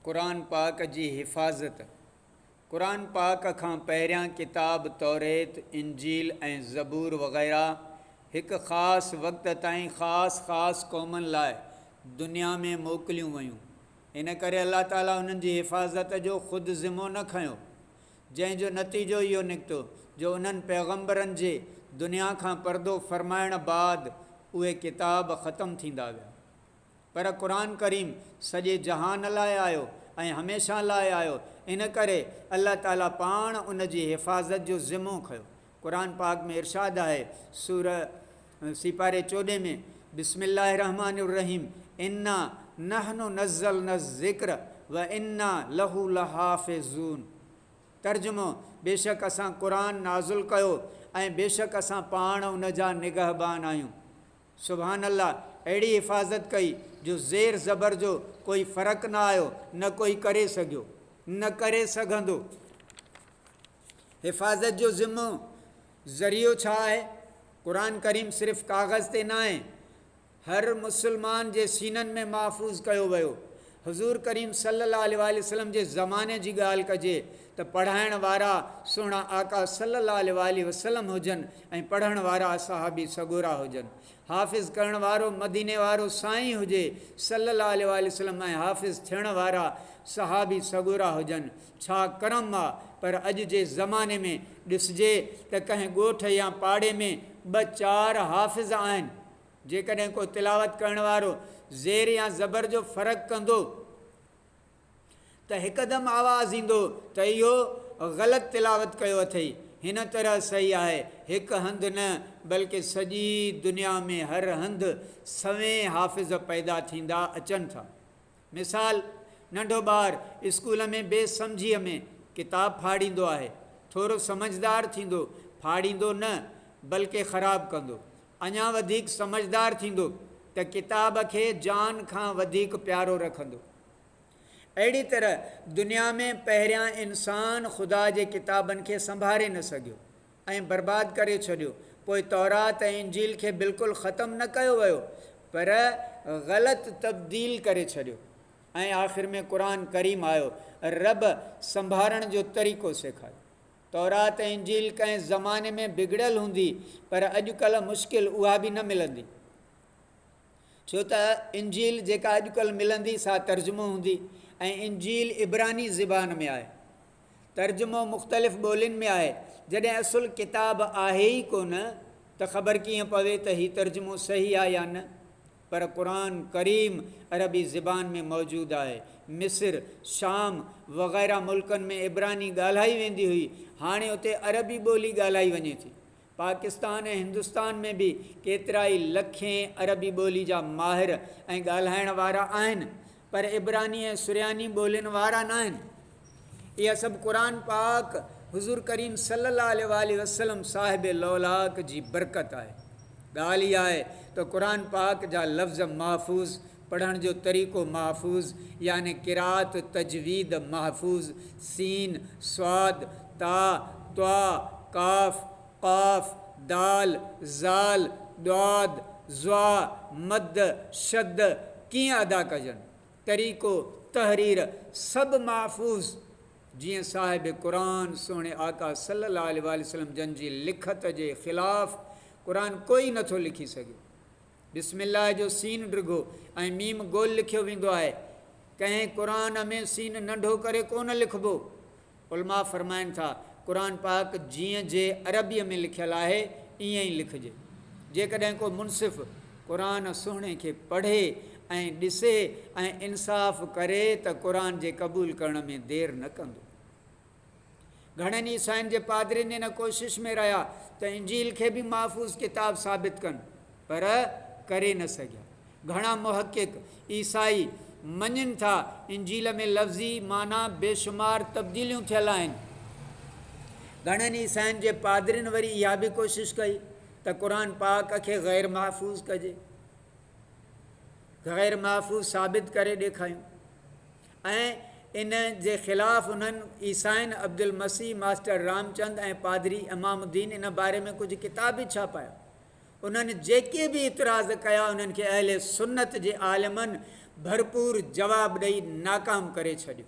قرآن پاڪ جي حفاظت، قرآن پاڪ کان پهريان ڪتاب توريت، انجيل ۽ زبور وغيره هڪ خاص وقت تائين خاص خاص قومن لاء دنيا ۾ موڪليون ويون، ان ڪري الله تعاليٰ انهن جي حفاظت جو خود ذمو نه کنيو، جنهن جو نتيجو اهو نڪتو جو انهن پيغمبرن جي دنيا کان پردو فرمائڻ بعد اهي ڪتاب ختم ٿيندا ويا. پر قرآن ڪريم سڄي جهان لاء آيو ۽ هميشه لاء آيو، ان ڪري الله تعالي پاڻ ان جي حفاظت جو ذمو کنيو. قرآن پاڪ ۾ ارشاد آهي، سوره سي پاري چوڏهين ۾، بسم الله الرحمٰن الرحيم انا نحن نزلنا الذڪر وانا له لحافظون، ترجمو، بيشڪ اسان قرآن نازل ڪيو ۽ بيشڪ اسان پاڻ ان جا نگهبان آهيون. سبحان الله اهڙي حفاظت ڪئي جو زير زبر جو ڪوئي فرق نه آيو نه ڪوئي ڪري سگهيو نه ڪري سگهندو حفاظت جو ذمو ذريعو ڇا آهي قرآن ڪريم صرف ڪاغذ تي ناهي هر مسلمان جي سينن ۾ محفوظ ڪيو ويو حضور ڪريم صلي الله عليه واٰله وسلم جي زماني جي ڳالهه ڪجي ته پڙهائڻ وارا سهڻا آقا صلي الله عليه واٰله وسلم هجن ۽ پڙهڻ وارا اصحابي سڳورا هجن. حافظ ڪرڻ وارو مديني وارو سائين هجي صلي الله عليه واٰله وسلم ۽ حافظ ٿيڻ وارا صحابي سڳورا هجن ڇا ڪرم آ پر اڄ جي زماني ۾ ڏسجي ته ڪنهن ڳوٺ يا پاڙي ۾ ٻه چار حافظ آهن جيڪڏهن ڪو تلاوت ڪرڻ وارو زير يا زبر جو فرق ڪندو ته هڪدم آواز ايندو ته اهو غلط تلاوت ڪيو اٿئي. هن طرح صحيح آهي، هڪ هنڌ نه بلڪه سڄي دنيا ۾ هر هنڌ سوين حافظ پيدا ٿيندا اچن ٿا. مثال، ننڍو ٻار اسڪول ۾ بي سمجهيء ۾ ڪتاب ڦاڙيندو آهي، ٿورو سمجهدار ٿيندو، ڦاڙيندو نه بلڪه خراب ڪندو. اڃا وڌيڪ سمجهدار ٿيندو ته ڪتاب کي جان کان وڌيڪ پيارو رکندو. اهڙي طرح دنيا ۾ پهريان انسان خدا جي ڪتابن کي سنڀاري نه سگهيو ۽ برباد ڪري ڇڏيو. پوء تورات ۽ انجيل کي بلڪل ختم نه ڪيو ويو پر غلط تبديل ڪري ڇڏيو ۽ آخر ۾ قرآن ڪريم آيو. رب سنڀارڻ جو طريقو سيکاريو. تورات ۽ انجيل ڪنهن زماني ۾ بگڙيل هوندي پر اڄڪلهه مشڪل اها به نه ملندي ڇو ته انجيل جيڪا اڄڪلهه ملندي سا ترجمو هوندي ۽ انجيل عبراني زبان ۾ آهي ترجمو مختلف ٻولين ۾ آهي جڏهن اصل ڪتاب آهي ئي ڪونه ته خبر ڪيئن پوي ته هي ترجمو صحيح آهي يا نه پر قرآن ڪريم عربي زبان ۾ موجود آهي. مصر، شام وغيره ملڪن ۾ عبراني ڳالهائي ويندي هئي، هاڻي اتي عربي ٻولي ڳالهائي وڃي ٿي. پاڪستان ۽ هندستان ۾ به ڪيترائي لکين عربي ٻولي جا ماهر ۽ ڳالهائڻ وارا آهن، پر عبراني ۽ سرياني ٻولين وارا ناهن. اها سڀ قرآن پاڪ حضور ڪريم صلي الله عليه واٰله وسلم صاحب لولاڪ جي برڪت آهي. ڳالهه اها آهي ته قرآن پاڪ جا لفظ محفوظ، پڙهڻ جو طريقو محفوظ يعني قرات، تجويد، محفوظ، سين، صاد، طاء، طٰع، قاف، قاف، دال، ذال، ضاد، ظا، مد، شد ڪيئن ادا ڪجن، طريقو تحرير سڀ محفوظ جيئن صاحب قرآن سهڻي آقا صلي الله عليه واٰله وسلم جن جي لکت جي خلاف قرآن ڪوئي نٿو لکي سگهي. بسم الله جو سين ڊگهو ۽ ميم گول لکيو ويندو آهي. ڪنهن قرآن ۾ سين ننڍو ڪري ڪونه لکبو. علماء فرمائن ٿا، قرآن پاڪ جيئن جي عربيء ۾ لکيل آهي، ائين ئي لکجي. جيڪڏهن ڪو منصف قرآن سهڻي کي پڙهي ۽ ڏسي ۽ انصاف ڪري ته قرآن جي قبول ڪرڻ ۾ دير نه ڪندو. گهڻن عيسائين جي پادرين ان ڪوشش ۾ رهيا ته انجيل کي به محفوظ ڪتاب ثابت ڪن پر ڪري نه سگهيا. گهڻا محقق عيسائي مڃين ٿا انجيل ۾ لفظي معنيٰ بيشمار تبديليون ٿيل آهن. گهڻن عيسائين جي پادرين وري اها به ڪوشش ڪئي ته قرآن پاڪ کي غير محفوظ ڪجي غير محفوظ ثابت ڪري ڏيکايون. ۽ ان جي خلاف انهن عيسائين عبدالمسيح، ماسٽر رامچند ۽ پادري امام الدين ان باري ۾ ڪجهه ڪتاب به ڇاپايا. انهن جيڪي به اعتراض ڪيا انهن کي اهل سنت جي عالمن ڀرپور جواب ڏئي ناڪام ڪري ڇڏيو.